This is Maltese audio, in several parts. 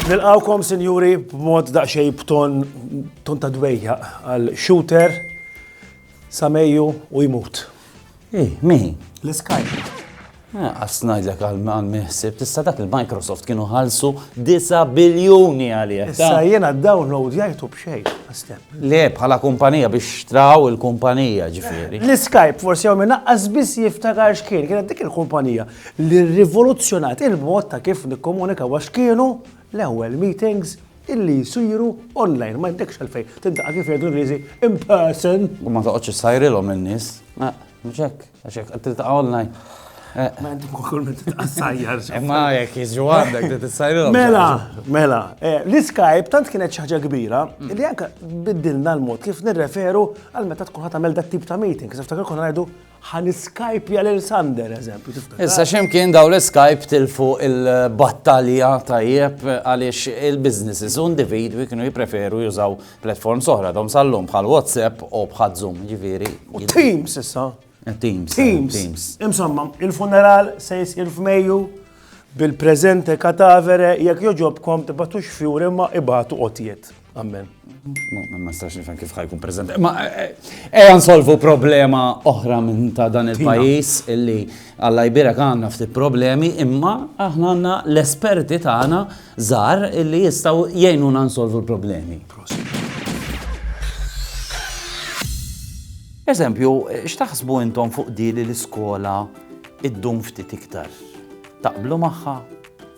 Nilqawkom, sinjuri, b'mod daqsxejn b'ton ta' dwejjaq għal Shooter sa Mejju u jmut. Ej, min? L-Skype. Għasnajzek eh, għal-man miħsib, tista dak il-Microsoft kienu ħalsu 9 biljuni għalija. Issa jena download jajtu bxej, għastep. Le, bħala kumpanija biex xtraw il-kumpanija ġifiri. L-Skype forsi għom minna għazbis jiftakar xkien, kienet dik il-kumpanija li rivoluzzjonat il-mod ta' kif nikkomunika għax kienu l-ewel meetings illi jsiru online, ma jtekx għalfejn tintaqa' kif jgħidu l-Ingliżi in person. U ma toqgħodx issajrilhom in-nies. Mhux hekk, għax hekk qed tiltaqa' online. Ma inti kull minn tiltaqa' sajjar. Imma jekk jiġu għandek li tissajrilhom. Mela, mela, l-Skype tant kienet xi ħaġa kbira li anke biddilna l-mod kif nirreferu għal meta tkun ħadd tagħmel dat-tip ta' meeting. Kif niftakar konna ngħidu Ħa niskajpja lil Sander, eżempju, tiftakar. Issa ximkien daw l-Skype tilfu il-battalja tajjeb għaliex il-businesses u individwi kienu jipreferu jużaw platforms oħra dom sallum bħal WhatsApp u bħal Zoom, ġifieri. U Teams issa. Eh, Teams. Teams. Teams. Insomma, il-funeral se jisir f'Mejju bil-preżente katavere jekk joġobkom tibatux fjur imma ibatu qotjiet. Amen. Ma nistax nifhem kif ħajkun preżenti. Ma eh, eh, ejja nsolvu problema oħra minn ta' dan il-pajjiż illi Alla jbirek għandna ftit problemi imma aħna għandna l-esperti tagħna żgħar illi jistgħu jgħinuna nsolvu l-problemi. Eżempju, eh, x'taħsbu intom fuq dili l-iskola id-dum ftit iktar? Taqblu magħha?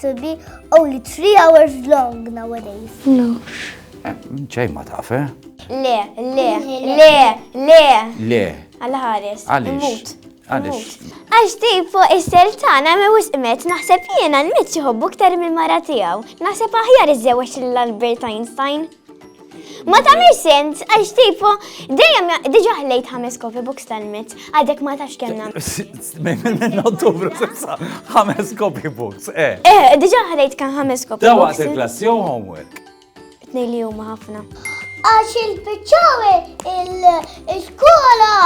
to be only three hours long nowadays. No. ċej ma taf, eh? Le, le, le, le. Le. Għal-ħares. Għalix. Għalix. Għax tipo isser tana me wis imet naħseb jiena l-mit jħobbu ktar minn mara tiegħu. Naħseb aħjar iżewġ l-Albert Einstein. Ma tamir sens, għax tifu, dejjem diġa ħlejt ħames kofi books tal-mit, għadek ma tax kemna. Minn ottubru sissa, ħames kofi books, eh. Eh, diġa ħlejt kan ħames kofi books. Dawa il-klass jew homework? Tnej li huma ħafna. Għax il-bicċawi il-skola,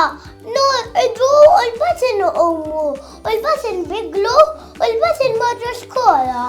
nu id-du u l-batin u ummu, u l-batin biglu, u l-batin marru skola.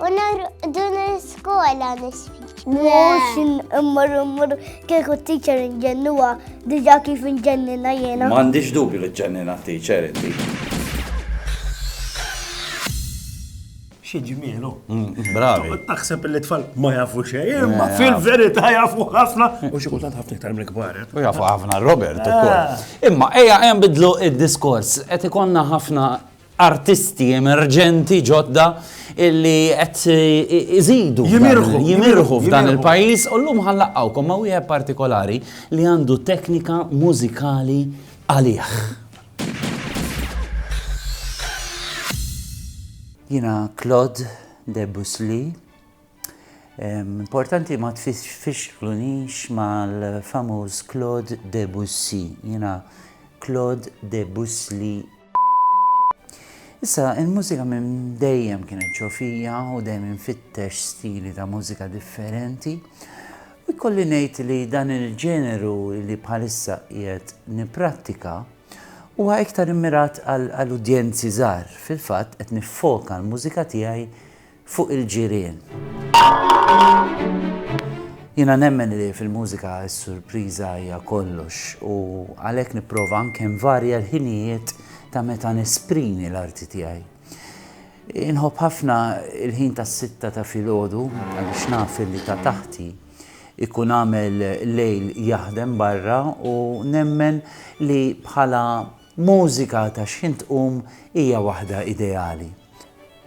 U narqdu l-iskola nisfiċ. Mux immur immur kieku t-teacher inġennuwa diġa kif inġennina jena. Mandiġ dubju li ġennina t-teacher inti. Xie ġmielu. Mm, bravi. Taħseb li tfal ma jafu xej, imma fil-verita jafu ħafna. U xie kultant ħafna iktar mill-kbar. Eh? U jafu ħafna Robert ukoll. Ah. Imma eja hemm bidlu id-diskors qed ikonna ħafna artisti emerġenti ġodda illi qed iżidu jimirħu f'dan il-pajjiż u llum ħanlaqgħukom ma' wieħed partikolari li għandu teknika mużikali għalih. Jiena Claude Debusli. Importanti ma tfixklunix mal-famuż Claude Debussy. Jiena Claude Debusli Issa, il-mużika minn dejjem kienet ġofija u dejjem infittex stili ta' mużika differenti. U jkolli ngħid li dan il-ġeneru li bħalissa qiegħed nipprattika huwa iktar immirat għal udjenzi żgħar. Fil-fatt qed niffoka l-mużika tiegħi fuq il-ġirien. Jiena nemmen li fil-mużika s-surpriża hija kollox u għalhekk nipprova anke nvarja l-ħinijiet ta' meta nesprimi l-arti tiegħi. Inħobb ħafna il-ħin tas-sitta ta' filgħodu għaliex naf li ta' taħti ikun għamel lejl jaħdem barra u nemmen li bħala Mużika ta' xħin tqum hija waħda ideali.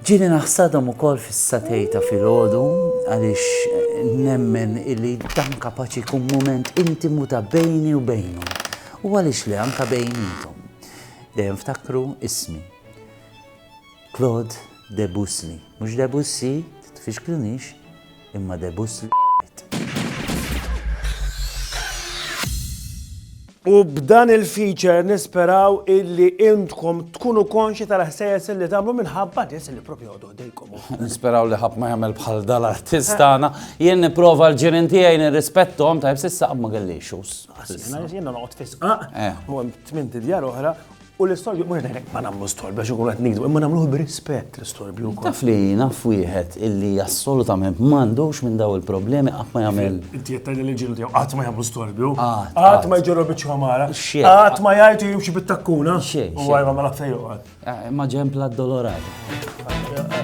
Ġieli naħsadhom ukoll fis-satej ta' filgħodu għaliex nemmen illi dan kapaċi jkun mument intimu ta' bejni u bejnhom u għaliex le anke bejniethom. Dejjem ftakru ismi. Claude Debussly. Mhux Debussy, titfixklunix. imma debus l. U b'dan il-feature nisperaw illi intkom tkunu konxi tal-ħsejjes li tagħmlu minħabba nies li propju għodu ħdejkom. Nisperaw li ħadd ma jagħmel bħal dal-artist tagħna. Jien nipprova l-ġirien tiegħi nirrispettom tajb s'issa qatt ma kelli issues. Jiena noqgħod fisqaq, eh. u hemm tmien djar oħra U l-istorbju, mux għedek ma namlu storbju, għax ikun għet nigdu, imma namluħ b'rispett l-istorbju. Taf li naf wieħed illi assolutament mandux minn daw il-problemi għat ma jagħmel. Inti jetta li l-ġilu tiegħu qatt ma jagħmlu storbju. Qatt ma jġorru biċċa mara. Qatt ma jgħidu jimxi bit-takkuna. U għajma ma lafta joqgħod. Eh, ma ġempla d-dolorat. Eh, eh,